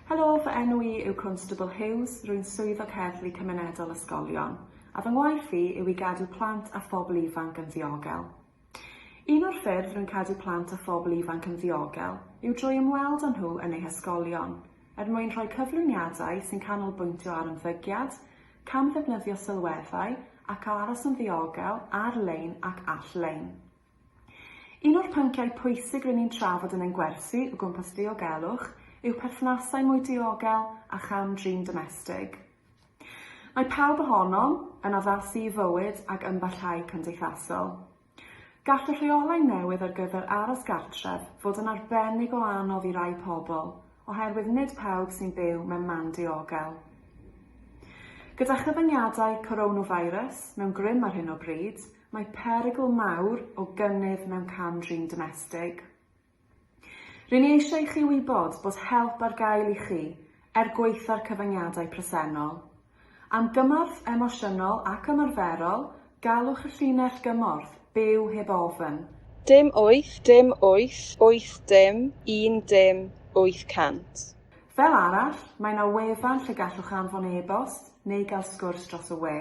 Helo, fy enw i yw Constable Hughes, rwy'n swyddog heddlu cymunedol ysgolion, a fy ngwaith i yw i gadw plant a phobl ifanc yn ddiogel. Un o'r ffyrdd rwy'n cadw plant a phobl ifanc yn ddiogel yw drwy ymweld â nhw yn eu hysgolion, er mwyn rhoi cyflwyniadau sy'n canolbwyntio ar ymddygiad, camddefnyddio sylweddau ac aros yn ddiogel ar-lein ac all-lein. Un o'r pynciau pwysig rŷn ni'n trafod yn ein gwersi o gwmpas diogelwch yw perthnasau mwy diogel a cham-drin domestig. Mae pawb ohonom yn addasu i fywyd ag ymbarhau cymdeithasol. Gall y rheolau newydd ar gyfer aros gartref fod yn arbennig o anodd i rai pobl oherwydd nid pawb sy'n byw mewn man diogel. Gyda chyfyngiadau coronavirus mewn grym ar hyn o bryd, Mae perygl mawr o gynnydd mewn cam-drin domestig. Rŷn ni eisiau i chi wybod bod help ar gael i chi er gwaetha'r cyfyngiadau presennol. Am gymorth emosiynol ac ymarferol, galwch y llinell gymorth Byw Heb Ofn. Dim wyth dim wyth wyth dim un dim wyth cant. Fel arall, mae 'na wefan lle gallwch anfon e-bost neu gael sgwrs dros y we.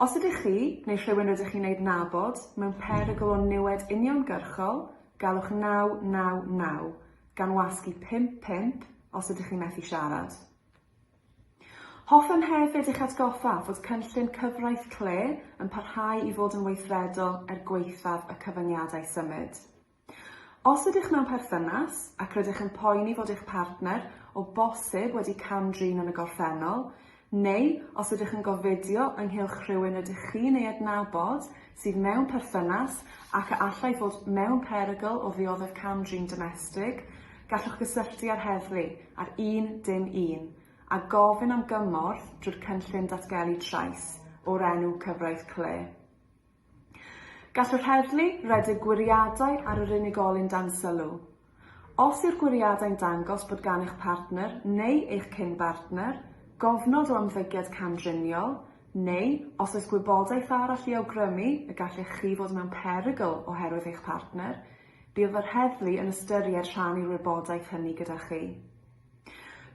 Os ydych chi, neu rhywun rydych chi'n ei adnabod, mewn perygl o niwed uniongyrchol, galwch 999, gan wasg i 55 os ydych chi'n methu siarad. Hoffem hefyd eich atgoffa fod cynllun cyfraith CLE yn parhau i fod yn weithredol er gwaethaf y cyfyngiadau symud. Os ydych mewn perthynas ac rydych yn poeni fod eich partner o bosib wedi cam-drin yn y gorffennol, neu os ydych yn gofidio ynghylch rhywun rydych chi'n ei adnabod sydd mewn perthynas ac a allai fod mewn perygl o ddioddef cam-drin domestig, gallwch gysylltu â'r heddlu ar 111 a gofyn am gymorth drwy'r cynllun datgelu trais o'r enw Cyfraith Clare. Gall yr heddlu redeg gwiriadau ar yr unigolyn dan sylw. Os yw'r gwiriadau'n dangos bod gan eich partner neu eich cyn-bartner gofnod o ymddygiad camdriniol, neu os oes gwybodaeth arall i awgrymu y gallech chi fod mewn perygl oherwydd eich partner, bydd yr heddlu yn ystyried rhannu'r wybodaeth hynny gyda chi.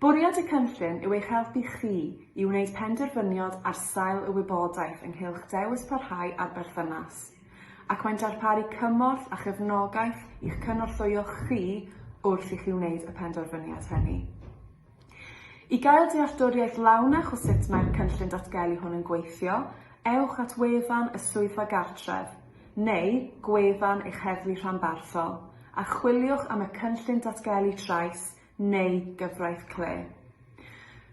Bwriad y cynllun yw eich helpu chi i wneud penderfyniad ar sail y wybodaeth ynghylch dewis parhau â'r berthynas, ac mae'n darparu cymorth a chefnogaeth i'ch cynorthwyo chi wrth i chi wneud y penderfyniad hynny. I gael dealltwriaeth lawnach o sut mae'r cynllun datgelu hwn yn gweithio, ewch at wefan y Swyddfa Gartref, neu gwefan eich heddlu rhanbarthol, a chwiliwch am y Cynllun Datgelu Trais neu Gyfraith Clé.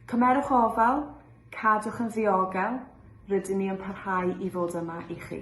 Cymerwch ofal, cadwch yn ddiogel, rydyn ni yn parhau i fod yma i chi.